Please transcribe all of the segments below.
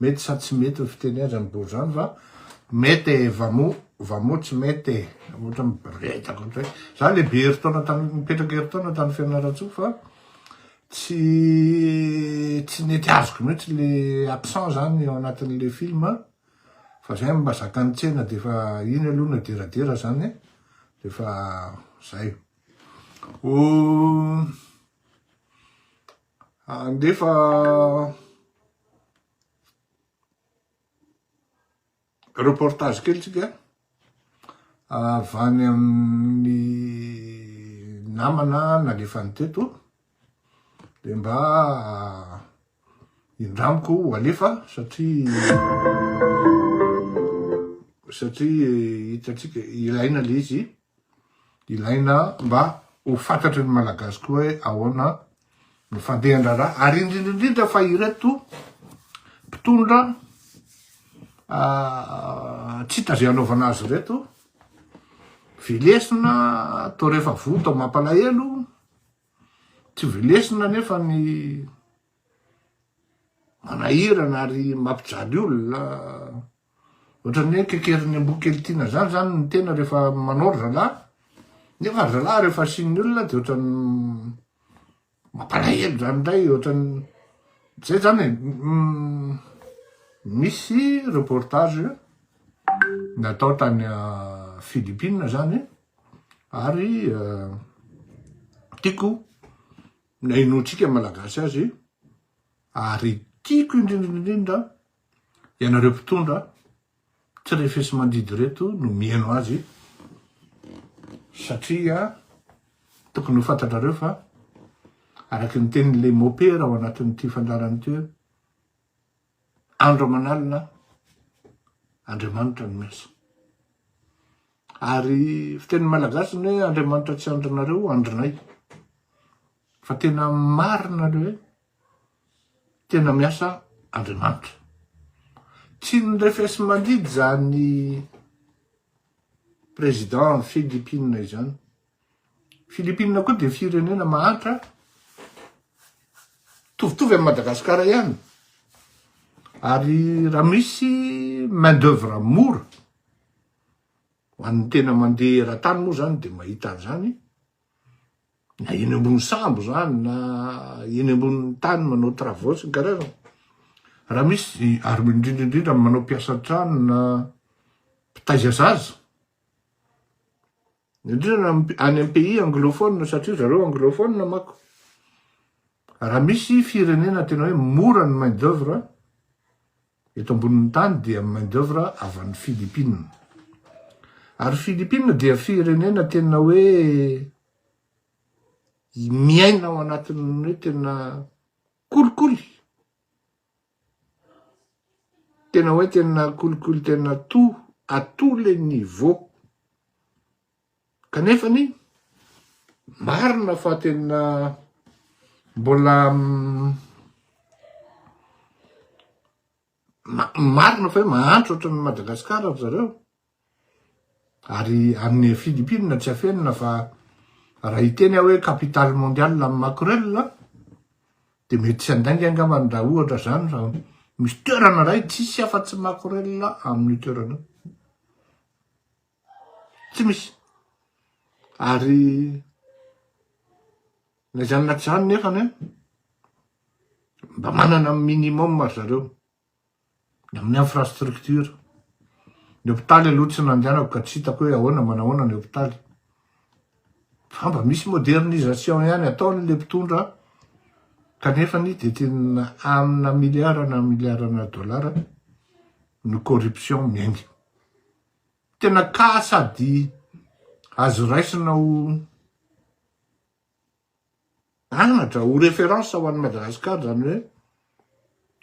Mety sa tsy mety ny fitenezany bory zany va mety e va mo va mo tsy mety e ohatra miboretaka ohatra hoe za le be herintaona tany mipetraka herintaona tany fianarantsoa fa tsy tsy nety azoko mihitsy le accent zany ao anatin'le film fa zay mba zakan'ny tsena de fa iny aloha no ederadera zany e de fa zay o Handefa reportage kely tsika avy any amin'ny namana nalefany teto dia mba indramiko ho alefa satria satria hitantsika ilaina le izy Ilaina mba ho fantatry ny Malagasy koa hoe ahoana no fandehan-draharaha ary indrindra indrindra fa ireto mpitondra tsy tazo hanaovana azy ireto vilesina atao rehefa voto mampalahelo tsy vilesina nefa ny manahirana ary mampijaly olona ohatrany hoe kekerin'ny amboa kely tiana zany zany ny tena rehefa manao ry zalahy nefa ry zalahy rehefa asian'ny olona de ohatrany mampalahelo zany ndray ohatrany zay zany e mm, misy reportage natao tany ah, Philippines zany ary euh, tiako na inoantsika Malagasy azy ary tiako indrindraindrindra ianareo mpitondra tsy refesimandidy reto no mihaino azy satria tokony ho fantatrareo fa araky ny tenin'ilay mopera ao anatin'ity fandarana ity hoe Andro aman'alina Andriamanitra no miasa. Ary fiteny malagasy ny hoe Andriamanitra tsy andrinareo, andrinay. Fa tena marina le hoe tena miasa Andriamanitra. Tsy ny refesi-mandidy zany président Philippines izany. Philippines koa dia firenena mahantra mitovitovy amin'i Madagasikara ihany ary raha misy main d'oeuvre mora ho an'ny tena mandeha eran-tany moa izany dia mahita an'izany na eny ambony sambo izany na eny ambony tany manao travaux sy ny karazany raha misy ary indrindra indrindra manao mpiasa an-trano na mpitaiza zaza Indrindra any amin'ny pays anglophone satria ry zareo anglophone manko. Raha misy firenena tena hoe mora ny main d'oeuvre eto ambonin'ny tany dia main d'oeuvre avy any Philippines. Ary Philippines dia firenena tena hoe miaina ao anatin'ny hoe tena kolikoly. Tena hoe tena kolikoly tena tout à tous les niveaux. Kanefa anie marina fa tena mbola marina fa hoe mahantra ohatran'i Madagasikara ry zareo. Ary any Philippines tsy afenina fa raha hiteny aho hoe capitale mondiale amin'ny makorel a, dia mety tsy handainga angambany raha ohatra izany fa misy toerana iray tsisy afa-tsy makorel amin'io toerana io. Tsy misy. Ary na izany na tsy izany nefany an, mba manana minimum ry zareo. Ny amin'ny infrastructure. Ny hopitaly aloha tsy nandehanako ka tsy hitako hoe ahoana manahoana ny hopitaly. Fa mba misy modernisation ihany ataony le mpitondra kanefa ny dia tena amina milliard na milliard na dollars ny corruption miainga. Tena cas sady azo raisina ho Anatra ho référence ho an'i Madagascar zany hoe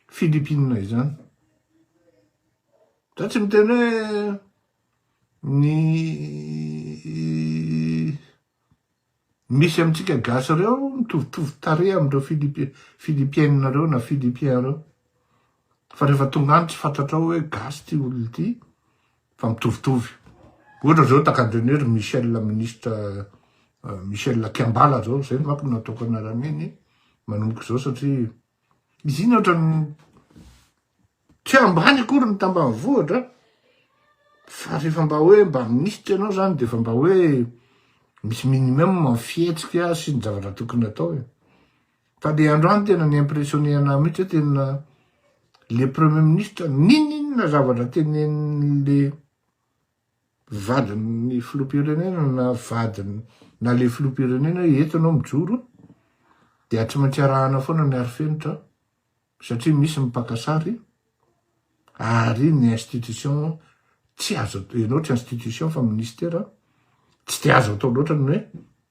Philippines izany. Za tsy miteny hoe ny misy amintsika gasy reo mitovitovy tarehy amindreo Philippienina reo na Philippien reo. Fa rehefa tonga any tsy fantatrao hoe gasy ty olona ty Fa mitovitovy. Ohatra zao takadrainy hoe ry Michel ministre Michel Kiambala zao, zay manko no nataoko anarany hoe ny manomboka zao satria izy iny ohatrany tsy ambany akory ny tambanivohitra fa rehefa mba hoe mba ministre ianao zany de efa mba hoe misy minimum ny fihetsika sy ny zavatra tokony atao e. Ka le andro any tena ni impressionner anah mihitsy hoe tena le premier ministre ninoninona zavatra tenenin'le vadin'ny filoham-pirenena na vadiny na le filoham-pirenena hoe eto ianao mijoro dia tsy maintsy arahana foana ny arifenitra satria misy ny mpaka sary ary ny institution tsy azo atao ianao tsy institution fa ministera tsy dia azo atao loatra ny hoe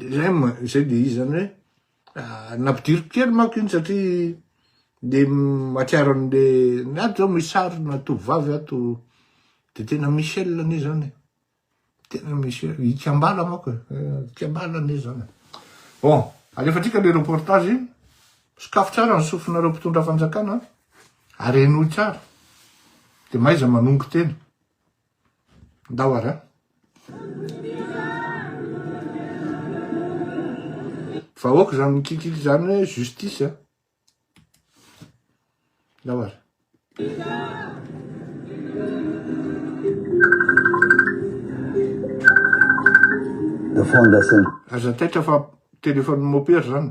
Dilemme izay dia izy izany hoe ah, nampidiriko kely manko iny satria dia mahatsiaro an'le ny ato zao misy sarina tovovavy ato dia tena Michel anie zany tena Michel ikambala manko e eh, ikambala anie zany bon alefatsika le reportage sokafo tsara ny sofinareo mpitondra fanjakana ary henoy tsara dia maiza manongo tena Ndao ara. Vahoaka izany mikikiky izany hoe justice a. Ndao ara. Aza taitra fa téléphone mopera zany.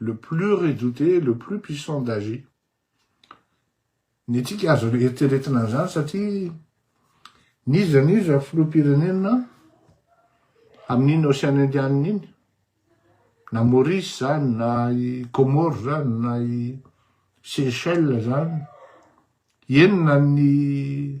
le plus redouté, le plus puissant d'âge. Ny antsika azo eritreretina an'izany satria n'iza n'iza filoham-pirenena amin'iny Ocean Indianina iny, na Maurice zany, na i Comores zany, na i Seychelles zany, enina ny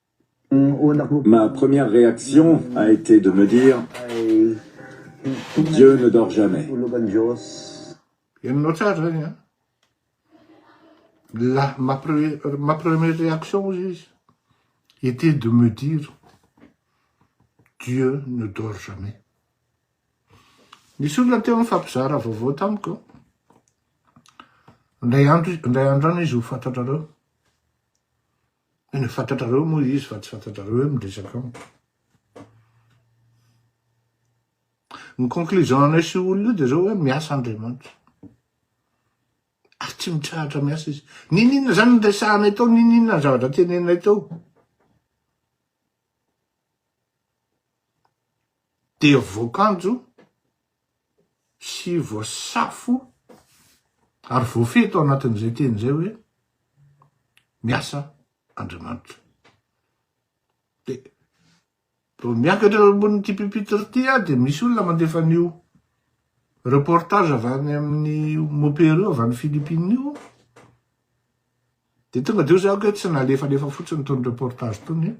Ma première réaction a été de me dire Dieu ne dort jamais. Henonao tsara zany an! La ma ma première réaction hozy izy était de me dire Dieu ne dort jamais. Nisy olona teo nifampizara vaovao tamiko indray andro indray andro any izy ho fantatrareo. Tena fantatrareo moa izy fa tsy fantatrareo hoe miresaka amiko. Ny conclusion anay sy olona io dia zao hoe miasa Andriamanitra. Ary tsy mitsahatra miasa izy. Nininona zany ny resahanay tao, nininona ny zavatra teneninay tao. Dia voakanjo sy voasafo ary voafehy tao anatin'izay teny izay hoe miasa Andriamanitra. Dia vao miakatra eo ambonin'ity pupitre ity aho dia misy olona mandefa an'io reportage avy any amin'ny mopero io avy any Philippines io dia tonga dia hoy za hoe tsy nalefalefa fotsiny itony reportage itony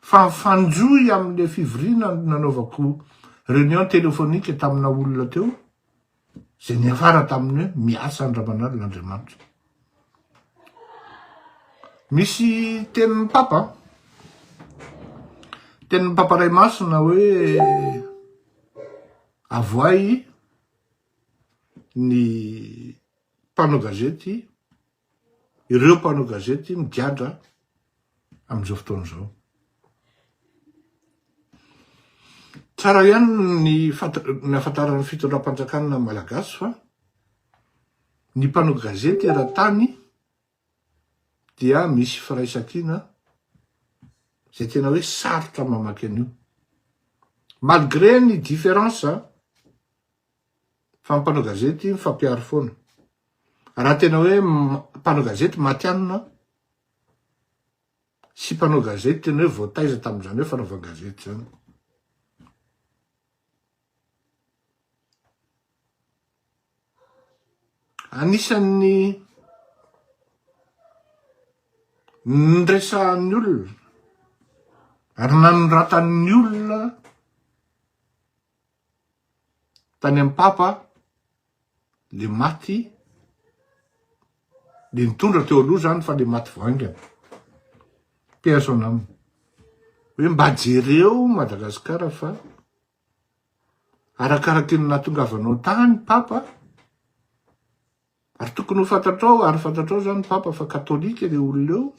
Fa mifanjohy amin'ilay fivoriana nanaovako réunion téléphonique tamina olona teo, izay niafara taminy hoe miasa an-dRamanalona Andriamanitra. Misy tenin'ny Papa, tenin'ny Papa Ray Masina hoe avoahy ny mpanao gazety, Ireo mpanao gazety migadra amin'izao fotoana izao. Tsara ihany ny nahafantaran'ny fitondram-panjakana malagasy fa ny mpanao gazety eran-tany dia misy firaisankina izay tena hoe sarotra mamaky an'io. Malgré ny différence, Fa ny mpanao gazety mifampiaro foana. Raha tena hoe mpanao gazety matianina sy mpanao gazety tena hoe voataiza tamin'izany hoe fanaovan-gazety izany. Anisan'ny niresahan'ny olona ary nanoratan'ny olona Tany amin'ny Papa le maty le nitondra teo aloha zany fa le maty vao haingana. Paix à son âme. Hoe mba jereo Madagasikara fa arakaraky ny nahatongavanao tany Papa ary tokony ho fantatrao ary fantatrao zany Papa fa katolika le olona eo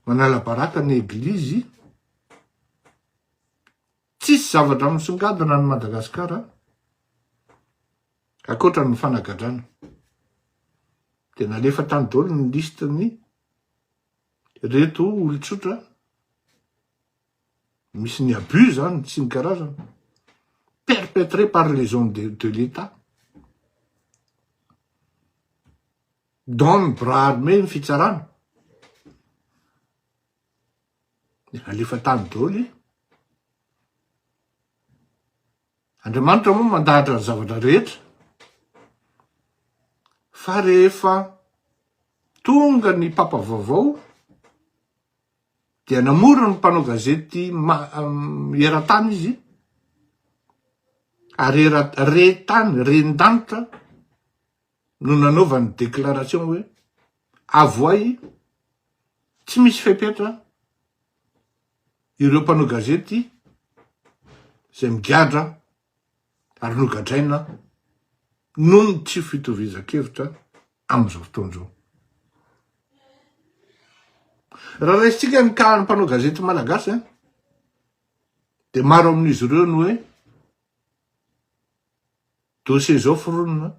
manala baraka ny eglizy Tsisy zavatra misongadina any Madagascar a! Akoatra ny fanagadrana. De nalefa tany daholo ny liste ny reto olon-tsotra misy ny abus zany tsy ny karazana perpetré par les hommes de, de l'État. Don bras armé ny fitsarana. Alefa tany daholo e. Andriamanitra moa mandahatra ny zavatra rehetra. Fa rehefa tonga ny papa vaovao dia namoro ny mpanao gazety eran-tany izy ary re-tany, ren-danitra, no nanaovany déclaration hoe avoay tsy misy fepetra ireo mpanao gazety izay migadra ary nogadraina noho ny tsy fitovizan-kevitra amin'izao fotoana izao. Raha raisintsika ny kalan'ny mpanao gazety malagasy eh, dia maro amin'izy ireo no hoe dossier zao foronina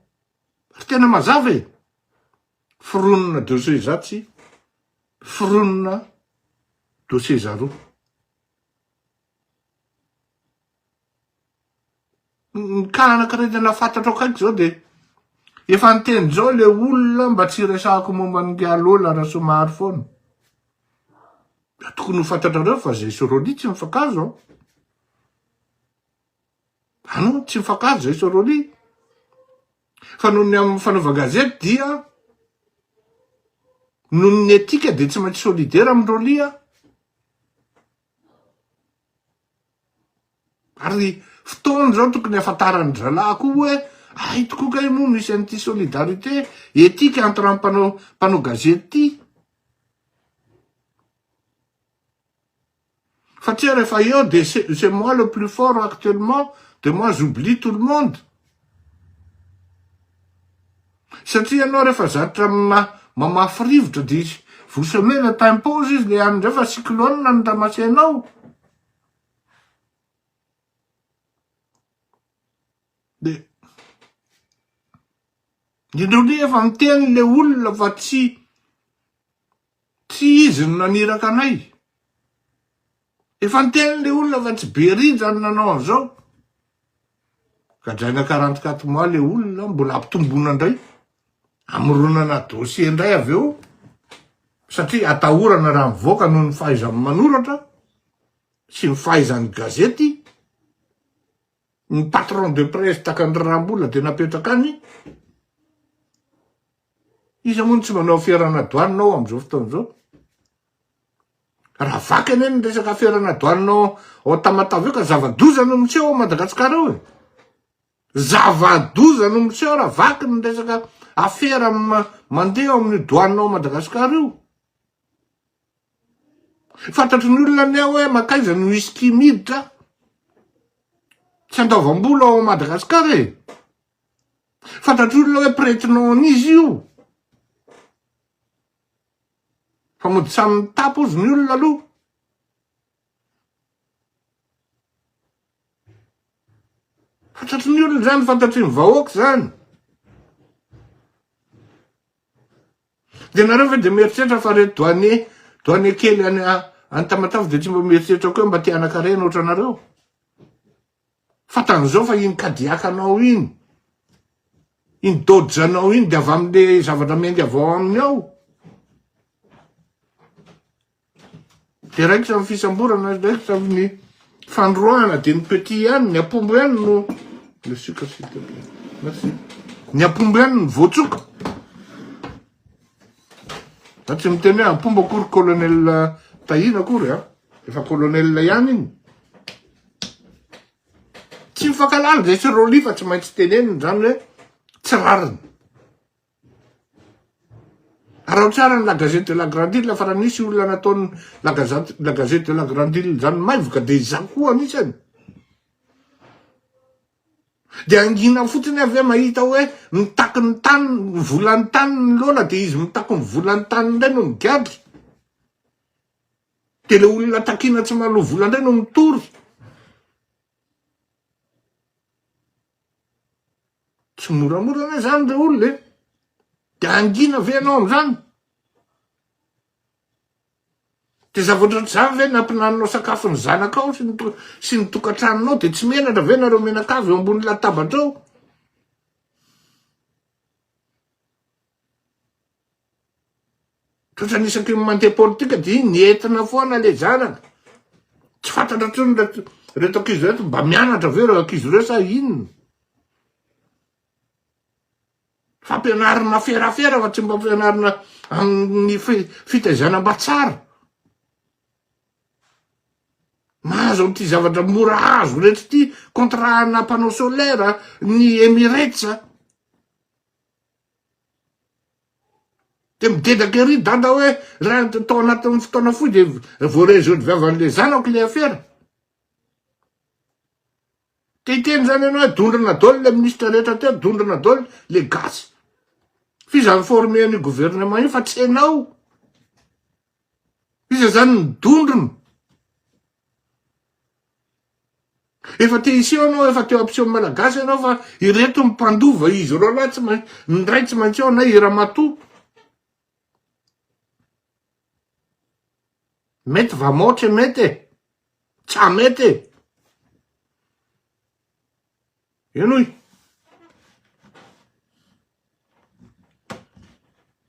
fa tena mazava e! foronina dossier zatsy, foronina dossier zaroa. Ny cas anakirindrina fantatro akaiky zao de efa niteny zao le olona mba tsy hiresahako momba an'i Ngiyalola Rasomahary foana. Tokony ho fantatrareo fa zay sy Rolly tsy mifankahazo an! An, tsy mifankahazo zay Soroli. Fa noho ny amin'ny fanaovan-gazety dia noho ny etika dia tsy maintsy solidaire amin'ny Rolly aho. Ary fotoana izao tokony hafantaran'ny zalahy koa hoe ay tokoa kay moa misy an'ity solidarité etika entre amin'ny mpanao mpanao gazety ity. Fa tsia rehefa eo dia c'est moi le plus fort actuellement dia moi j'oublie tout le monde. Satria ianao rehefa zatra mamafy rivotra dia vous semez le t'impose izy le any ndray fa cyclone no tamasenao. Dia indreo ndray efa miteny le olona fa tsy Tsy izy no naniraka anay. Efa niteny ilay olona fa tsy Berija no nanao an'izao. Gadraina quarante quatre mois ilay olona, mbola ampitomboina indray. Amoronana dossier indray avy eo, satria atahorana raha mivoaka noho ny fahaizany manoratra sy ny fahaizany gazety. Ny patron de presse takan'i Rarambola dia napetraka any. Iza moa no tsy manao aferana doanina ao amin'izao fotoana izao? Raha vaka anie ny resaka aferana doanina ao ao Tamatave io ka zava-doza no miseho ao Madagasikara ao e. Zava-doza no miseho raha vaky ny resaka afera mandeha ao amin'ny doanina ao Madagasikara io. Fantatry ny olona anie hoe mankaiza no whisky miditra tsy andaovam-bola ao Madagasikara e. Fantatr'io olona hoe prête-nom an'izy io. Fa mody samy mitapy hozy ny olona aloha. Fantatry ny olona izany, fantatry ny vahoaka izany. Dia ianareo ve dia mieritreritra fa reto douanier, douanier kely any Tamatave dia tsy mba mieritreritra koa hoe mba te hanan-karena ohatranareo? Fantany izao fa iny kadiakanao iny, iny dojanao iny dia avy amin'le zavatra miainga avy ao aminy ao. Dia raikitra amin'ny fisamborana, raikitra amin'ny fanoroahana, dia ny petit ihany, ny apombo ihany no le sucre s'il te plaît. Merci. Ny apombo ihany no voatsoka. Za tsy miteny hoe apombo akory colonel Tahina akory a. Efa colonel ihany iny. Tsy mifankahalala zay sy Rolly fa tsy maintsy tenenina zany hoe tsy rariny. Araho tsara ny la gazette de la grande île fa raha nisy olona nataon'ny la gazette la gazette de la grande île zany maivoka de izaho koa anisany. De angina fotsiny avy eo mahita hoe mitaky ny tany ny volan'ny tany ny loana de izy mitaky ny volan'ny tany indray no migadra. Dia ilay olona takiana tsy manao vola indray no mitory. Tsy moramora anie izany ilay olona e. Dia hangina ve ianao amin'izany? Dia zavatra ohatr'izany ve nampinaninao sakafo ny zanakao sy ny sy ny tokantranonao dia tsy menatra ve nareo menakavy eo ambony latabatra eo? Tratran'ny isaky ny mandeha politika dia ny entina foana le zanaka. Tsy fantatra intsony ireto ireto ankizy ireto mba mianatra ve ireo ankizy ireo sa inona? Fampianarana ferafera fa tsy mba fampianarana amin'ny fitaizana mba tsara. Mahazo an'ity zavatra mora azo rehetra ity, contrat-na mpanao solaire, ny Emirates. Dia midedraka ery i dada hoe raha tao anatin'ny fotoana fohy dia voarezohody viavan'ilay zanako ilay afera. Te hiteny izany ianao hoe dondrona daholo ilay minisitra rehetra teo, dondrona daholo ilay gasy. F'iza ni-former an'io gouvernement io fa tsy ianao. Iza izany ny dondrona? Efa te hiseho anao efa teo ampiseho malagasy ianao fa ireto ny mpandova izy ireo lahy tsy maintsy ny ray tsy maintsy ao na i ramatoa mety vamaotra e mety e tsa mety e Henoy!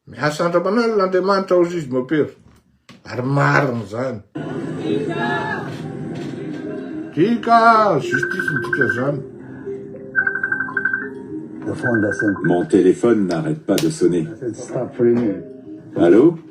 Miasa andramanalina Andriamanitra ao Zizy Mopera. Ary marina izany. Dika, justice ny dika izany. Mon téléphone n'arrête pas de sonner. Allô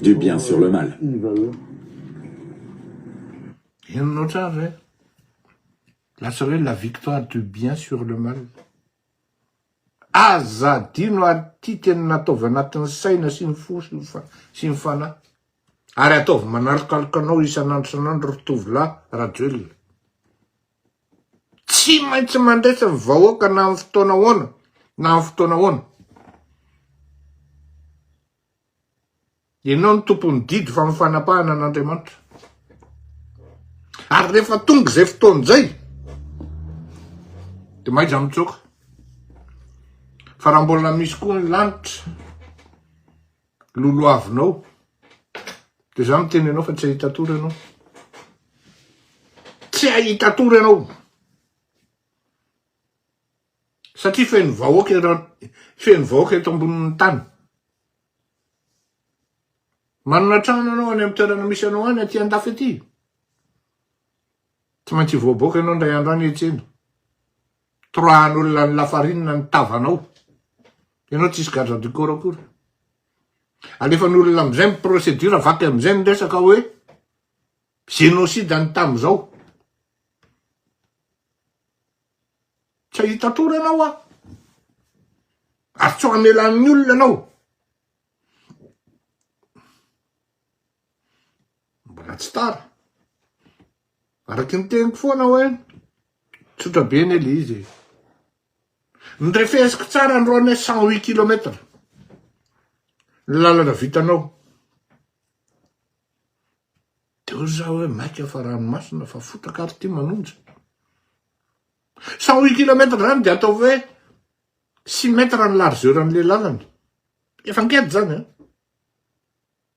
du bien sur le mal. Henonao tsara ve? Lasa hoe la victoire du bien sur le mal. Aza adino ary ity tena nataovy anatin'ny saina sy ny fo sy ny fanahy. Ary ataovy manalokaloka anao isan'andro isan'andro ry tovolahy Rajoelina. Tsy maintsy mandresy ny vahoaka na amin'ny fotoana ahoana na amin'ny fotoana ahoana. Ianao no tompon'ny didy fa amin'ny fanapahana an'Andriamanitra. Ary rehefa tonga izay fotoana izay, dia maiza mitsoaka. Fa raha mbola misy koa ny lanitra, lolohavinao de za miteny anao fa tsy ahita tory anao tsy ahita tory anao satria feno vahoaka eran feno vahoaka eto ambonin'ny tany manana trano anao any amin'ny toerana misy anao any aty andafy aty Tsy maintsy hivoaboaka ianao indray andro any hetsena. Torahan'olona ny lafarinina ny tavanao. Ianao tsy hisy garde du corps akory. Alefan'olona amin'izay ny procédure, vaky amin'izay ny resaka hoe génocide ny tamin'izao. Tsy hahita atoro ianao aho. Ary tsy ho amelan'ny olona ianao. Mbola tsy tara. Araky ny teniko foana hoe tsotra be anie le izy e. Ny refesiko tsara ny roane cent huit kilomètre. Ny lalana vitanao. De hoy za hoe maika fa ranomasina fa fotaka ary ty manonja. Cent huit kilomètre zany de ataovy hoe six mètre ny largeur an'le lalana. Efa ngety zany an.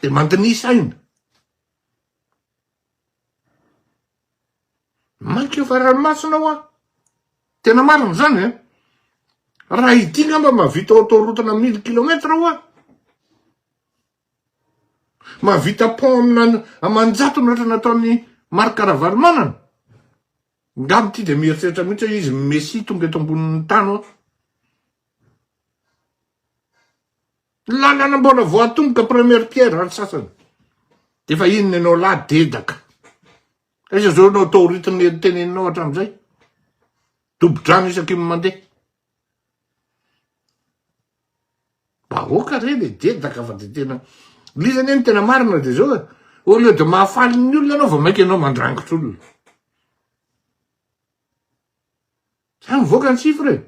Dia mandinisa aina. Mainka efa ranomasina hoa. Tena marina izany eh. Raha ity ngamba mahavita autoroute-na mille kilomètre hoa. Mahavita pont amina aman-jato ohatra nataon'ny Marc Ravalomanana. Ngamba ity dia mieritreritra mihitsy hoe izy Messie tonga eto ambonin'ny tany hoa. Ny lalana mbola vao atomboka première pierre any sasany de efa inona ianao lahy dedaka. Aiza zao ianao taorito ny teneninao hatramizay. Dobo-drano isaky ny mandeha. Vahoaka re le dedaka fa de tena liza anie ny tena marina de zao e. Au lieu de mahafaly ny olona ianao vao maika ianao mandrangitra olona. Zay mivoaka ny chiffre e!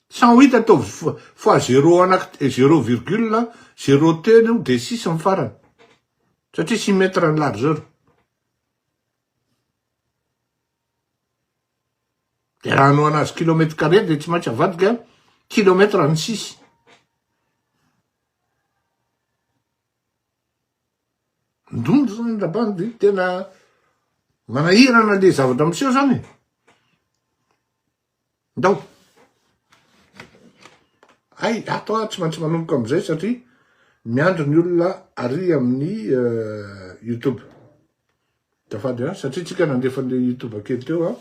Cent huit ataovy fois zéro anaky te- zéro virgule zéro telo eo dia six amin'ny farany. Satria six mètres ny largeur. Dia raha hanohana azy kilomètre carré dia tsy maintsy avadika kilomètre ny six. Ndondro zany ndra bandy tena manahirana le zavatra miseho zany e. Ndao. Hay ato ah tsy maintsy manomboka amizay satria miandry ny olona ary amin'ny euh, youtube. Azafady a, satria tsika nandefa an'ilay youtube kely teo a.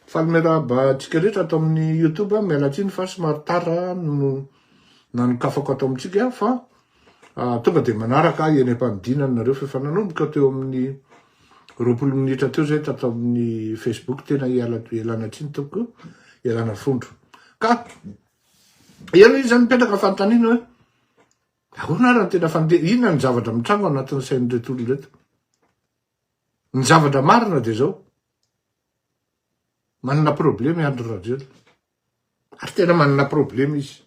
Faly miarahaba antsika rehetra ato amin'ny youtube, miala tsiny fa somary tara no nanokafako ato amintsika fa tonga dia manaraka ahy eny am-panidinana nareo fa efa nanomboka teo amin'ny roapolo minitra teo zay tato amin'ny facebook tena iala ialana tsiny tompoko ialana fondro ka eo izy mipetraka fanontaniana hoe Ahoana ary no tena fandeha? Inona ny zavatra mitranga ao anatin'ny sain'ireto olona ireto? Ny zavatra marina dia izao, manana problema i Andry Rajoelina, ary tena manana problema izy.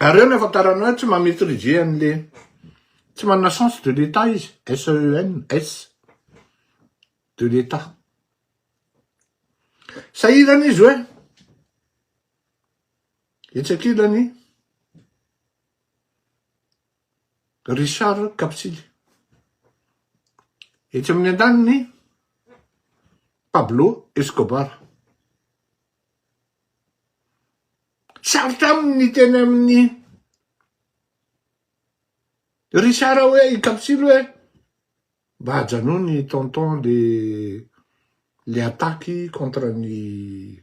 Ary eo ny afantarana hoe tsy mametrize an'le tsy manana sens de l'État izy, SENS e de l'État. Sahirana izy hoe etsy ankilany Richard Kapitsily. Etsy amin'ny andaniny Pablo Escobar. Sarotra amin'ny teny amin'ny Richard hoe i Kapitsily hoe Mba ajanony ny tonton le le attaque contre ny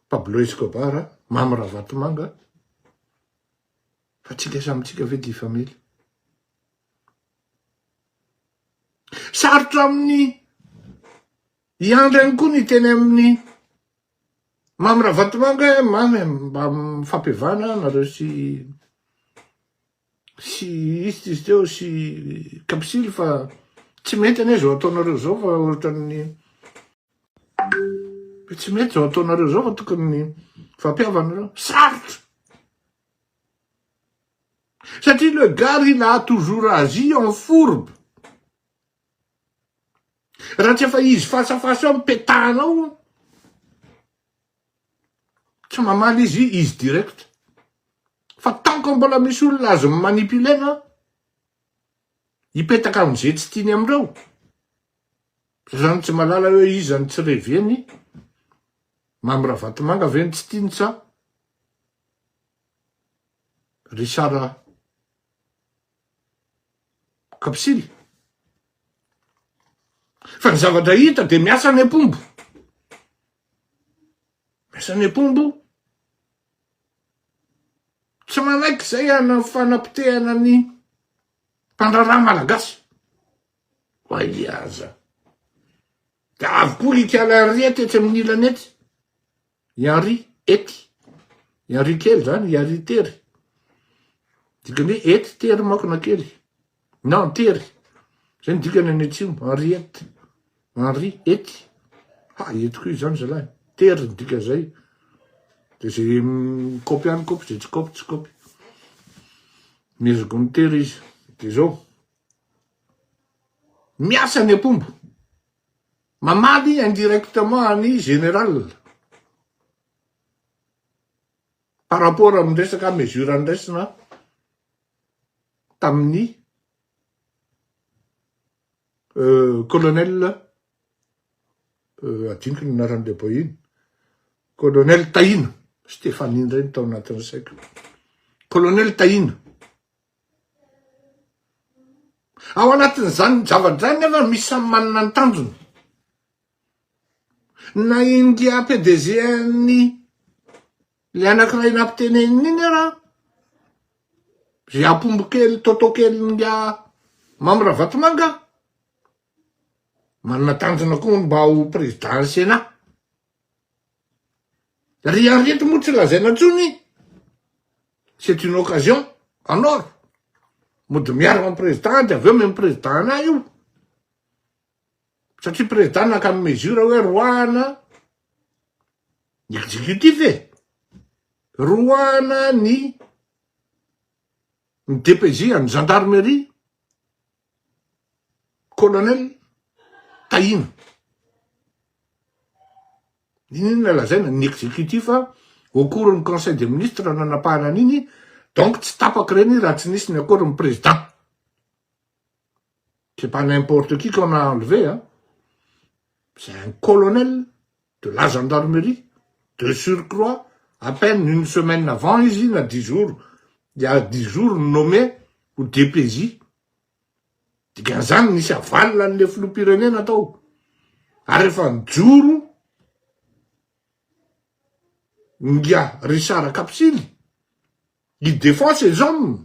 Pablo Escobar a, Mamy Ravatomanga a, fa tsika samy tsika ve dia family? Sarotra aminy i Andry any koa ny hiteny aminy Mamy Ravatomanga hoe Mamy mba mifampivana nareo sy sy ist izy teo sy kapsily fa tsy mety anie zao ataonareo zao fa ohatran'ny tsy mety zao ataonareo zao fa tokony fampihavanareo sarotra satria le gary il a toujours agi en fourbe raha tsy efa izy face à face eo mipetahanao Tsy mamaly izy izy direct. Fa tant que mbola misy olona azo mi manipuler na hipetaka amin'izay tsy tiany amin'ireo, zany tsy malala hoe iza no tsy reveny, Mamy Ravatomanga ve no tsy tiany sa Richard Kapsily? Fa ny zavatra hita dia miasa ny ampombo. Asa ny mpombo tsy manaiky izay hanao fanapotehana ny mpandraharaha malagasy. Wai aza. Dia avy koa ry ikala ry ety etsy amin'ny ilany etsy. I Henri ety. I Henri kely izany, i Henri tery. Dikan'ny hoe ety tery manko na kely. na antery, zay ny dikany any atsimo, Henriette, Henri ety, ha ety koa izany zalahy, tery ny dika zay, de zay mikopy any kopy, zay tsy kopy tsy kopy, mezoko mitery izy, de zao, miasa ny apombo, mamaly indirectement any général, par rapport amin'ny resaka mesure andraisana, tamin'ny Colonel adinoko ny anaran'ny lehiboy iny, Colonel Tahina, Stéphanie indray no tao anatin'ny saiko, Colonel Tahina, ao anatin'izany zava-draharaha izany anefa misy samy manana ny tanjony, na India PDG an'ny Ilay anankiray nampiteneniny iny ara, ry ampombo kely toto kelin'ny a Mamy Ravatomanga a, manana tanjona koa hono mba ho président Sénat. Ry Henriette moa tsy lazaina intsony, c'est une occasion en or, mody miaragna amin'ny président de avy eo mi-président anah io. Satria président naka ny mesure hoe roahana ny executif e, roahana ny ny DPJ an'ny gendarmerie, colonel Tahina. Inona lazaina ny executif au cours ny conseil des ministres nanapahana an'iny, donc tsy tapaka ireny raha tsy nisy ny accord ny président. C'est pas n'importe qui qu'on a enlevé hein. C'est un colonel de la gendarmerie, de surcroît, à peine une semaine avant izy iny, na dix jours, dia dix jours nommé ho DPJ. Dikan'izany nisy avalona an'ilay filoham-pirenena tao. Ary efa nijoro Ngia Richard Kapsily, i Défense et hommes.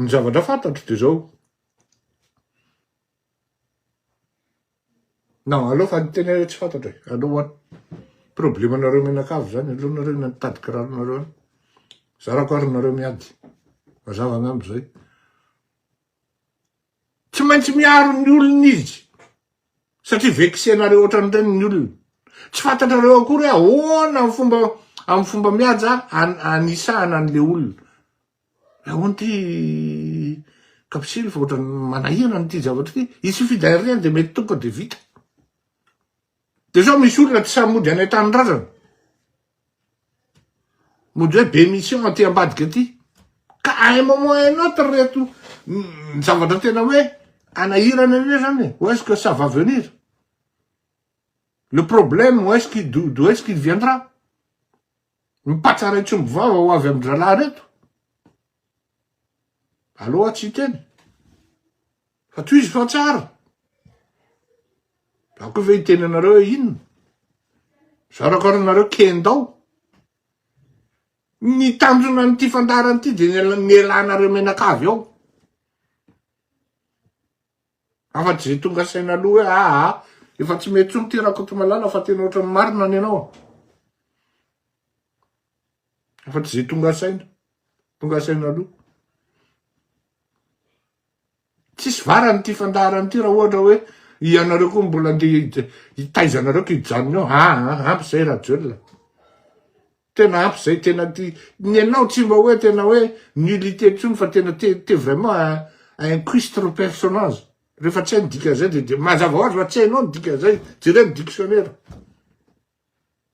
Ny zavatra fantatro dia zao, na aleo fa hiteny aho tsy fantatro e, aleo ho any, problemanareo mianakavy zany, aleo nareo any mitady kiraronareo any, zarako ary nareo miady, mazava angamba zay. Tsy maintsy miaro ny olony izy satria vexenareo ohatran'ireny ny olona. Tsy fantatrareo akory hoe ahoana amin'ny fomba amin'ny fomba mihaja anisahana an'ilay olona. La honte i Kapsily fa ohatran'ny manahirana ity zavatra ity. Il suffit d'un rien dia mety tonga dia vita. Dia sao misy olona tsy sahy mody any an-tanindrazana. Mondray be mission aty ambadika aty ka à un moment à un autre reto zavatra tena hoe hanahirana ireo zany e ou est-ce que ça va venir? Le problème ou est-ce qu'il d'où est-ce qu'il viendra? Mipatsara etsy ombivava ho avy amin-dRalahy reto? Aleoa tsy hiteny. Fa tohizo fa tsara. Za koa ve hiteny anareo hoe inona? Za rakoranareo kendao. Ny tanjona an'ity fandaharana ity de ny elanareo menakavy ao. Afa tsy ze tonga saina aloha hoe aa ah, efa tsy mety tsony ty rakotomalala fa tena ohatran'ny marina ny anao. Afaka izay tonga saina, tonga saina aloha. Tsisy varany ity fandaharana ity raha ohatra hoe ianareo koa mbola andeha hitaiza anareo ka hijanona eo. Ah, ah, ah ampy izay Rajoelina. Tena ampy izay, tena ty. Ny anao tsy mba hoe tena hoe nullité intsony fa tena te, te vraiment un, un cuistre personnage. Rehefa tsy hay ny dikan'izay dia, dia mazava ho azy fa tsy hainao ny dikan'izay, jereo ny dictionnaire.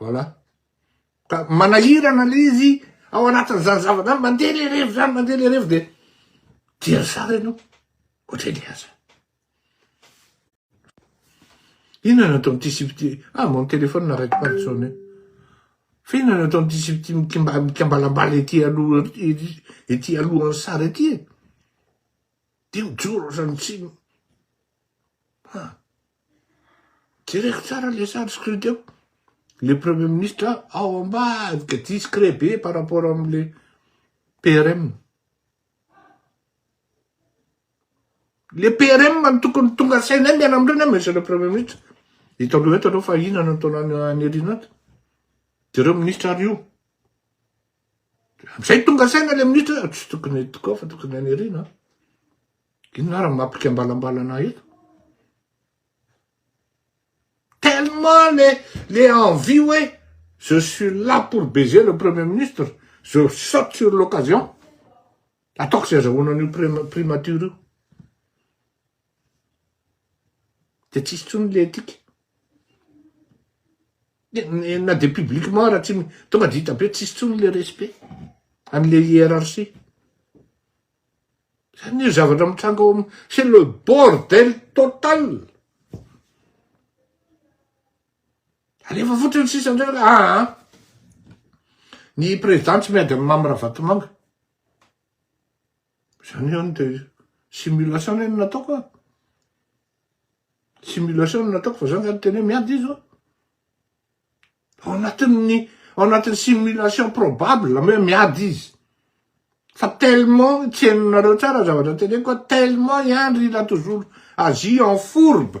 Voilà. Ka manahirana le izy ao anatin'izany zavatra mandeha le revo zany mandeha le revo dia dia ry zara ianao ohatry ny aza. Inona no atao amin'ity sipity ah mon téléphone n'arrête pas de sonner. Fa inona no atao amin'ity sipity mikimba mikambalambala ety aloha ety alohan'ny sary ety e. Dia mijoro ohatran'ny tsy ah. Jereko tsara le sary screen teo. Le premier ministre ao ambadika discret be par rapport amle PRM. Le PRM no tokony tonga sainay miala amindreo na monsieur le premier ministre. Hitanareo eto aloha fa inona no ataonao any Airianao. Jereo ministre ary io. Amin'izay tonga saina ilay minitra hoe tsy tokony eto koa fa tokony any aoriana an. Inona ary ny maha mpikambalambalana ahy eto? Tellement le le envie hoe je suis là pour baiser le premier ministre, je saute sur l'occasion. Ataoko izay azahoana an'io primature io. de tsisy tsony le etika na de publiquement ara tsy tonga de hita be tsisy tsony le respect amle hiérarchie zany io zavatra mitranga ao am c'est le bordel total alefa fotriny sisa ndray le aa ny président tsy miady am mamy ravatomanga Zany ihany dia simulation anie no nataoko a! Simulation no nataoko fa zany zany tena hoe miady izy ô! Ao anatin'ny ao anatin'ny simulation probable hoe miady izy. Fa tellement tsenonareo tsara zavatra teneniko fa tellement i Andry il a toujours agi en fourbe.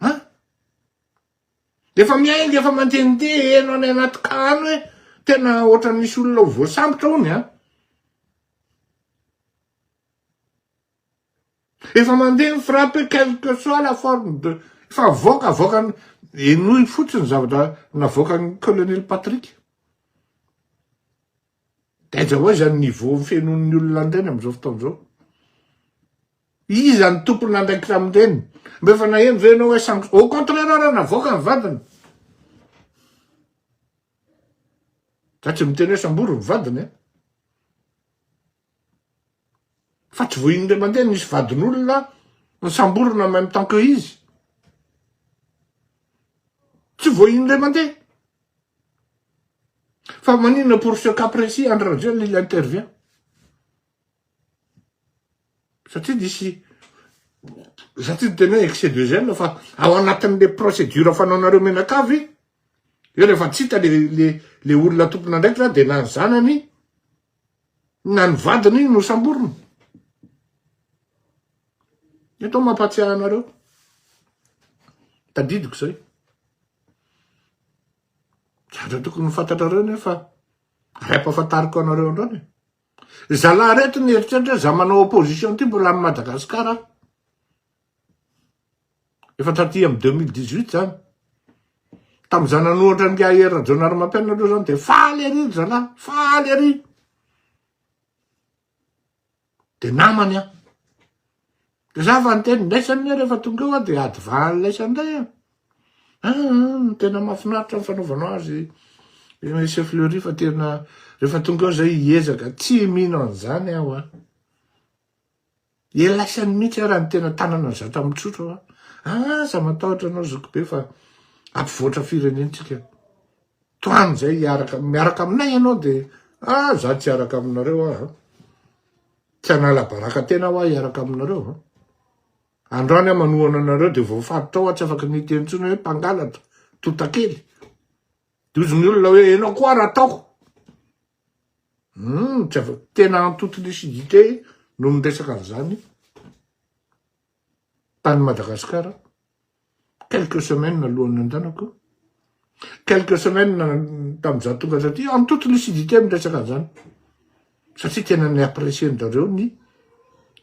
An! Efa miainga efa mandehandeha heno any anaty cas any hoe tena ohatran'ny misy olona ho voasambotra hono an! Efa mandeha ny frappe quelle que soit la forme de efa avoaka avoaka henoy fotsiny zavatra navoakan'ny colonel Patrick. Taiza hoa izany niveau fenoin'ny olona an'ireny amin'izao fotoana izao? Iza ny tompon'andraikitra amin'ireny? Mba efa naheno ve ianao hoe sanction? Au contraire ary navoaka ny vadiny. Za tsy miteny hoe sambory ny vadiny a. Fa tsy voa indray mandeha nisy vadin'olona nisamborina en même temps que izy. Tsy voa indray mandeha. Fa maninona pour ce cas précis Andry Rajoelina il intervient? Satria nisy satria tena hoe excès de zèle fa ao anatin'le procédure fanaonareo mianakavy eo rehefa tsy hita le le le olona tompon'andraikitra dia na ny zanany na ny vadiny iny nosamborina. Eto mampahatsiahy anareo, tadidiko izay. Zavatra tokony fantatrareo nefa ray ampahafantariko anareo androany e. Zalahy reto ny eritreritra za manao opposition ty mbola am Madagascar aho. Efa taty amin'ny 2018 zany. Tamin'izaho nanohatra ny gae Rajaonarimampianina aloha zany dia faly ery ry zalahy, faly ery. Dia namany aho. Dia za fa niteny laisany anie rehefa tonga eo aho dia adivahany laisany indray aho. Ah, ah, ah tena mahafinaritra ny fanaovanao azy eh, chef Fleury fa tena rehefa tonga eo zay hiezaka tsy mino an'izany aho a. Ah. Dia laisany mihitsy ary ny tena tanana zatra mitsotra hoa. Aza matahotra anao zokibe fa ampivoatra firenentsika. Tohano izay hiaraka, miaraka aminay ianao dia ah za tsy hiaraka aminareo ah. Tsy hanala baraka tena hoa hiaraka aminareo ah. Androany ah manohana anareo dia voafaritra hoa tsy afaka ny hiteny intsony hoe mpangalatra, totakely. Dia hozy ny olona hoe enao koa ary ataoko. Hum tsy avy tena en toute lucidité no miresaka an'izany tany Madagascar quelques semaines alohan'ny nandehanako quelques semaines tamin'ny za tonga taty en toute lucidité miresaka an'izany satria tena ny apprécier ndareo ny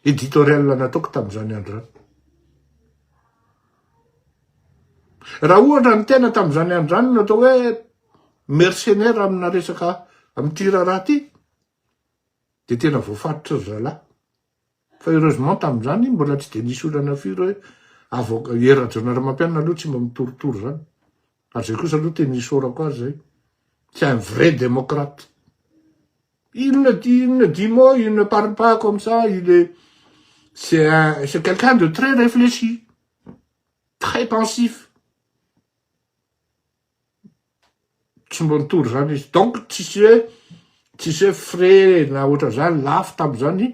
éditorial nataoko tamin'izany andro zany raha ohatra ny tena tamin'izany andro zany no atao hoe mercenaire amina resaka amin'ity raharaha ity dia tena voafaritry ry zalahy fa heureusement tamin'izany mbola tsy dia nisy olana firy hoe avoka Hery Rajaonarimampianina aloha tsy mba mitorotoro izany ary izay kosa aloha tena isaorako azy izay c'est un vrai démocrate inona di inona dix mots il ne parle pas comme ça il est c'est un c'est quelqu'un de très réfléchi très pensif tsy mba nitory izany izy, donc tsisy hoe tsisy hoe frais na ohatran'izany lafo tamin'izany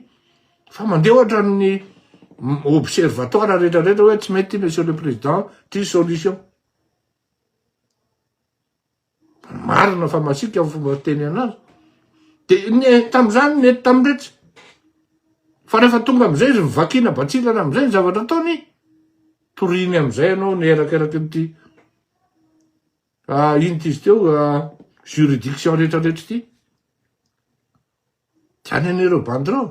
fa mandeha ohatra ny observatoire rehetra rehetra hoe tsy mety monsieur le président ity solution marina fa masiaka ny fomba fiteny anazy de ny tamin'izany nety tamin'iretsy fa rehefa tonga amizay izy mivakiana batsilana amizay ny zavatra ataony toriny amizay ianao ny erakeraky ny ity Ah, ino ty izy teo, juridiction rehetra rehetra ty. Tiany any ireo bandirao.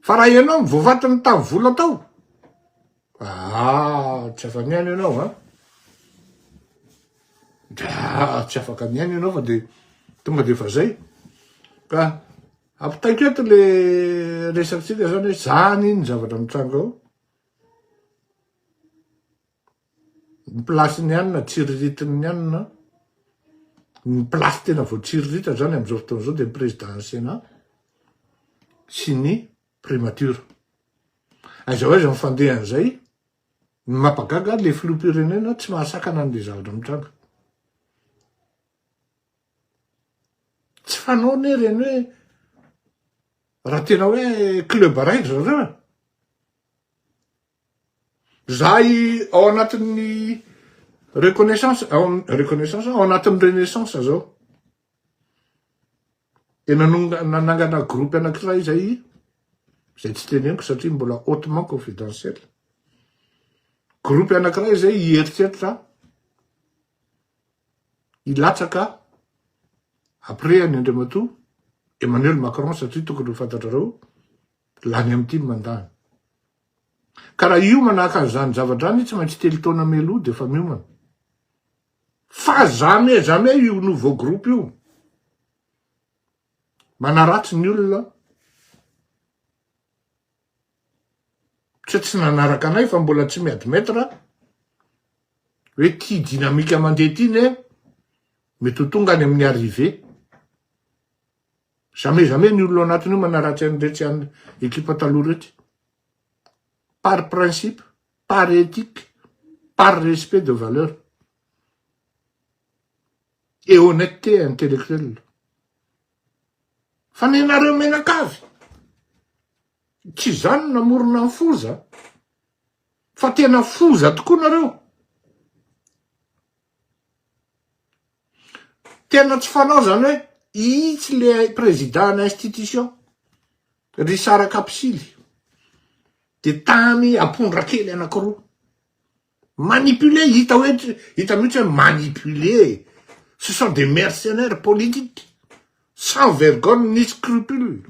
Fa raha ianao ny voavatiny tavo vola tao, ah, tsy afa miaina ianao, an. Ah, tsy afaka miaina ianao fa dia tonga dia efa zay. Ka ampitaiko eto le resakintsika zany hoe zany ny zavatra mitranga ao. ny place ny anina tsiriritin ny anina ny place tena vao tsiriritra zany amzao fotoana zao de ny président ny senat sy ny primature aiza ho aiza ny fandeha anzay ny mapagaga le filoha pirenena tsy mahasakana anle zavatra mitranga tsy fanao ne reny hoe raha tena hoe club araiky zareo e. Zay ao anatin'ny reconnaissance ao amin'ny reconnaissance ao anatin'ny renaissance zao dia nanonga- nanangana groupe anankiray zay zay tsy teneniko satria mbola hautement confidentiel groupe anankiray zay hieritreritra hilatsaka après an'i andriamatoa emmanuel macron satria tokony ho fantatrareo Lany am tim mandany. Ka raha hiomana haka an'izany zavatra izany tsy maintsy telo taona mialoha dia efa miomana. Fa jamais jamais io nouveau groupe io manaratsy ny olona tsy tsy nanaraka anay fa mbola tsy mi-admettre hoe ty dynamique mandeha ty ne mety ho tonga any amin'ny arrivée. Jamais jamais ny olona ao anatiny io manaratsy an'iretsy any ekipa taloha iretsy. Par principe, par ethique, par respect de valeur. Et honnêteté intellectuelle. Fa nenareo menakavy. Tsy izany namorona ny foza. Fa tena foza tokoa nareo. Tena tsy fanao zany hoe itsy le président ana institution ry sara kapisily de tamy apondra kely anakiroa manipuler hita hoe hita mihitsy hoe manipuler e ce sont des mercenaires politiques sans vergogne ni scrupule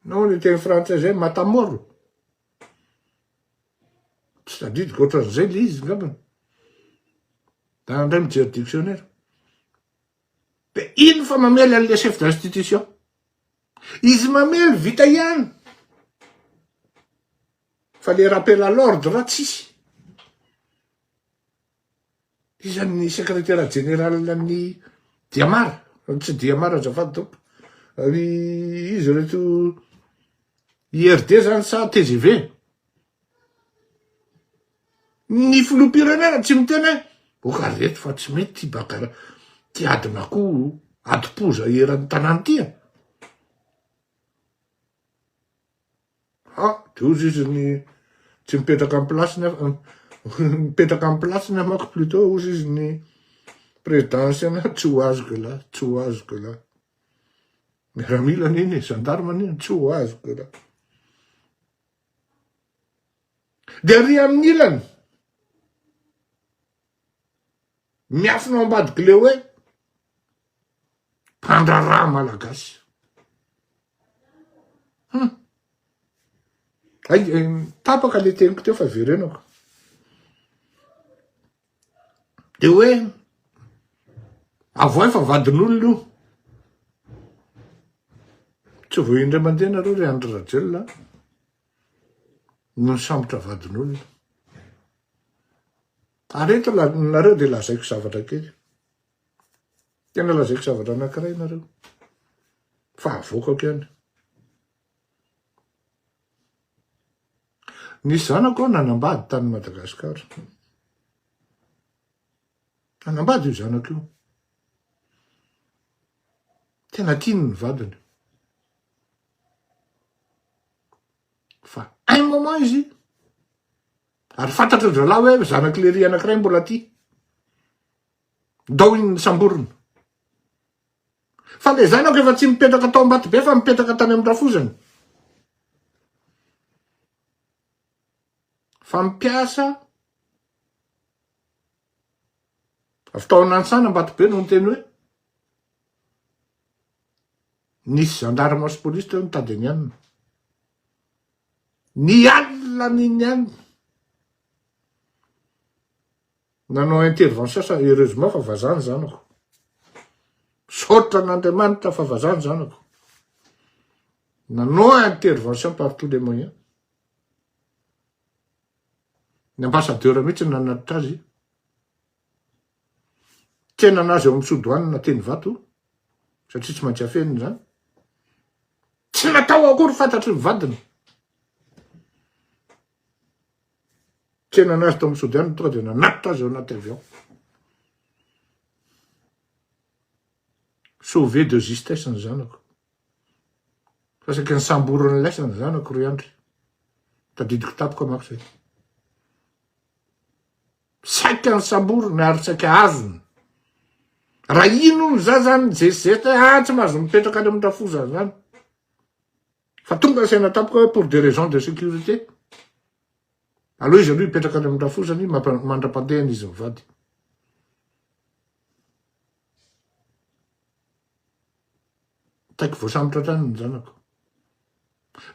Nao ny teny frantsay zay matamoro. Tsy tadidiko ohatran'izay le izy ngambany. Da ndray mijery dictionnaire. De ino fa mamely an'le chef d'institution. Izy mamely vita ihany. Fa le rappel à l'ordre tsisy. Iza ny sekretera jeneralin'ny Diamar? Tsy Diamar azafady tompoko. Ry izy reto IRD zany sa TGV? Ny filoham-pirenena tsy miteny hoe oka reto fa tsy mety ty bagara ty adin'akoho adim-poza eran'ny tanàna ty. Ah! Doza izy ny tsy mipetraka amin'ny place-ny afa mipetraka amin'ny place-ny aho manko plutôt hozy izy ny président ancien aho tsy ho azoko elah, tsy ho azoko elah. Miaramila anie ny gendarme anie tsy ho azoko elah. Dia ary amin'ny ilany miafina ao ambadik'ilay hoe mpandraharaha malagasy. Hum. Ay, tapaka le teniko teo fa verenako. De hoe avoay fa vadin'olona io. Tsy vao indray mandeha nareo ry Andry Rajoelina no nisambotra vadin'olona. Ary eto nareo dia lazaiko zavatra kely. Tena lazaiko zavatra anankiray nareo. Fa avoakako ihany. Ny zanako nanambady tany Madagascar. Nanambady io zanako io. Tena tiany ny vadiny. Fa un moment izy, ary fantatra dralahy hoe zanak'i Lery anankiray mbola tia. Ndao iny nisamborina. Fa le zanako efa tsy mipetraka tao Ambatobe fa mipetraka tany amin'ny rafozany. Fa mpiasa avy tao Nansana Ambatobe no niteny hoe nisy gendarme sy police teo nitady ny anona. Ny alina ny ny anona. Nanao intervention sa heureusement fa vazaha ny zanako. Misaotra an'Andriamanitra fa vazaha ny zanako. Nanao intervention par tous les moyens. Ny ambassadeur mihitsy nanatitra azy. Tsenana azy ao amin'ny sodoanina teny vato satria tsy maintsy afenina izany. Tsy natao akory fantatry ny vadiny. Tsenana azy tao amin'ny sodiana tonga dia nanatitra azy ao anaty avion. Sauvé de justesse ny zanako. Fa saika nisamboran'ny laisa ny zanako ry Andry. Tadidiko tampoka mako zay. Saika nisamboriny ary saika azony. Raha ino ny za zany, zezizeta, ah tsy mahazo mipetraka any amin'ny rafozany zany. Fa tonga ny saina tampoka hoe pour des raisons de sécurité. Aleo izy aloha hipetraka any amin-drafozany mandra-pandehany izy mivady. Taiko voasambotra hatrany ny zanako.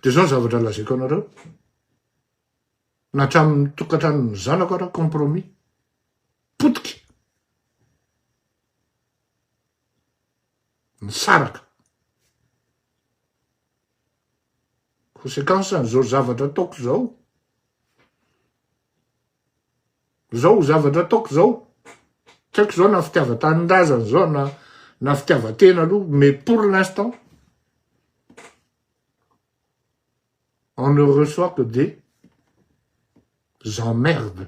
Dia izao ny zavatra lazaiko anareo. Na hatramin'ny tokantranon'ny zanako ara compromis. Potika. nisaraka. Conséquence an'izao zavatra ataoko izao, izao zavatra ataoko izao, tsy haiko izao na fitiavan-tanindrazana izao na na fitiavan-tena aloha, mais pour l'instant, on ne reçoit que des emmerdes.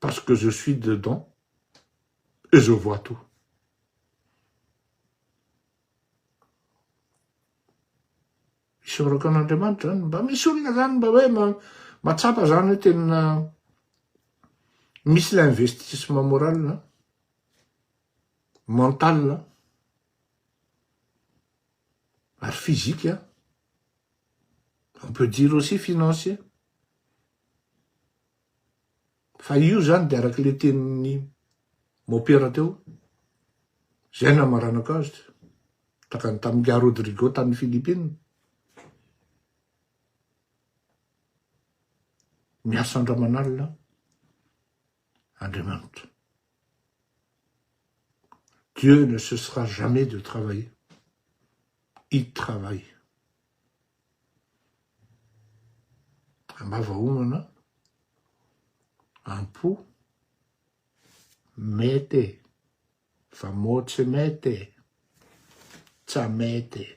Parce que je suis dedans et je vois tout. Isaorako an'Andriamanitra zany, mba misy olona zany mba hoe matsapa zany hoe tena misy ilay investissement moral, mental, ary physique, on peut dire aussi financier. Fa io zany dia araka ilay tenin'ny mopera teo, zay no hamaranako azy, tahaka ny tamin'i Nga Rodrigo tany Philippines. Miasa andramanalina Andriamanitra. Dieu ne cessera jamais de travailler. Il travaille. Ambava homana, am-po, mety e, fa moa tsy mety e, tsa mety e.